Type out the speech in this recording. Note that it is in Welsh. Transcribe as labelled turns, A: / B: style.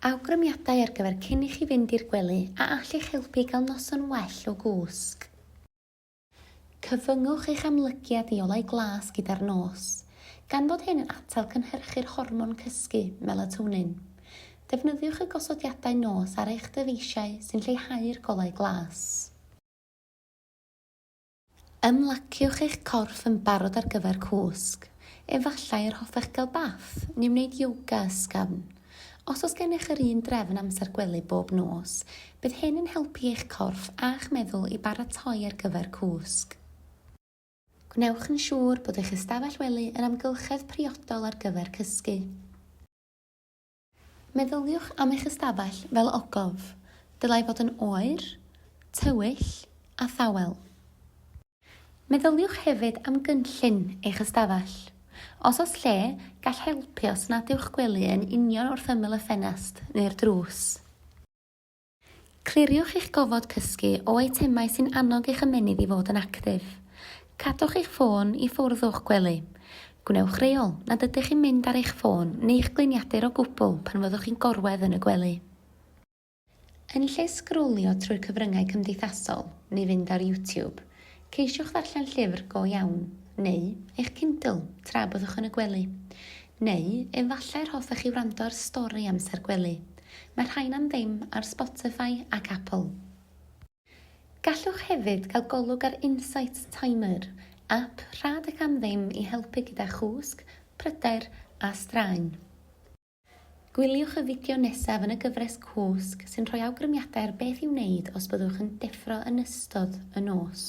A: Awgrymiadau ar gyfer cyn i chi fynd i'r gwely a all eich helpu i gael noson well o gwsg. Cyfyngwch eich amlygiad i olau glas gyda'r nos, gan fod hyn yn atal cynhyrchu'r hormon cysgu, melatonin. Defnyddiwch y gosodiadau nos ar eich dyfeisiau sy'n lleihau'r golau glas. Ymlaciwch eich corff yn barod ar gyfer cwsg. Efallai yr hoffech gael bath, neu wneud yoga ysgafn. Os oes gennych yr un drefn amser gwely bob nos, bydd hyn yn helpu eich corff a'ch meddwl i baratoi ar gyfer cwsg. Gwnewch yn siŵr bod eich ystafell wely yn amgylchedd priodol ar gyfer cysgu. Meddyliwch am eich ystafell fel ogof. Dylai fod yn oer, tywyll a thawel. Meddyliwch hefyd am gynllun eich ystafell. Os oes lle, gall helpu os nad yw'ch gwely yn union wrth ymyl y ffenest neu'r drws. Cliriwch eich gofod cysgu o eitemau sy'n annog eich ymennydd i fod yn actif. Cadwch eich ffôn i ffwrdd o'ch gwely. Gwnewch reol nad ydych chi'n mynd ar eich ffôn neu'ch gliniadur o gwbl pan fyddwch chi'n gorwedd yn y gwely. Yn lle sgrolio trwy'r cyfryngau cymdeithasol neu fynd ar YouTube, Ceisiwch ddarllen llyfr go iawn, neu eich Kindle, tra byddwch yn y gwely. Neu, efallai yr hoffech chi wrando ar stori amser gwely. Mae'r rhain am ddim ar Spotify ac Apple. Gallwch hefyd gael golwg ar Insight Timer, ap rhad ac am ddim i helpu gyda chwsg, pryder a straen. Gwyliwch y fideo nesaf yn y gyfres Cwsg sy'n rhoi awgrymiadau ar beth i'w wneud os byddwch yn deffro yn ystod y nos.